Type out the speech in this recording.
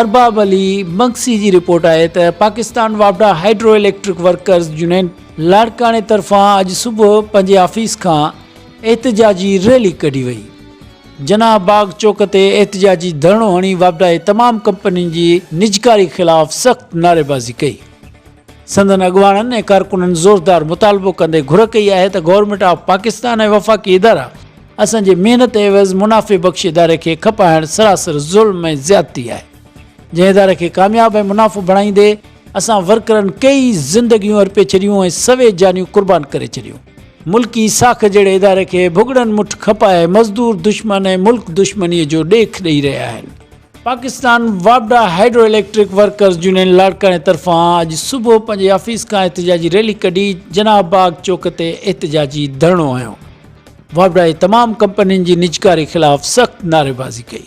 ارباب علي بنگسي جي رپورٽ آهي ته پاڪستان واپڊا هائيڊرو اليڪٽرڪ ورڪرز يونين لاڙڪاڻي طرفان اڄ صبح پنهنجي آفيس کان احتجاجي ريلي ڪڍي وئي جناح باغ چوڪ تي احتجاجي ڌرڻو هڻي واپڊا جي تمام ڪمپنين جي نجڪاري خلاف سخت نعريبازي ڪئي سندن اڳواڻن ۽ ڪارڪنن زوردار مطالبو ڪندي گهر ڪئي آهي ته گورنمينٽ آف پاڪستان ۽ وفاقي ادارا اسان جي محنت عيوض منافعي بخش اداري کي کپائڻ سراسر ظلم ۽ زيادتي آهي جنهن اداري کي ڪامياب ۽ منافعو بڻائيندي اسان ورڪرن ڪيئي زندگيون ارپي ڇڏيون ۽ سوين جانيون قربان ڪري ڇڏيون. ملڪي ساک جهڙي اداري کي ڀڳڙن مٺ کپائي مزدور دشمن ۽ ملڪ دشمني جو ڏيک ڏئي رهيا آهن. پاڪستان واپڊا هائيڊرو اليڪٽرڪ ورڪرز يونين لاڙڪاڻي طرفان اڄ صبح پنهنجي آفيس کان احتجاجي ريلي ڪڍي جناح باغ چوڪ تي احتجاجي ڌرڻو هنيو واپڊا جي تمام ڪمپنين جي نجڪاري خلاف سخت نعريبازي ڪئي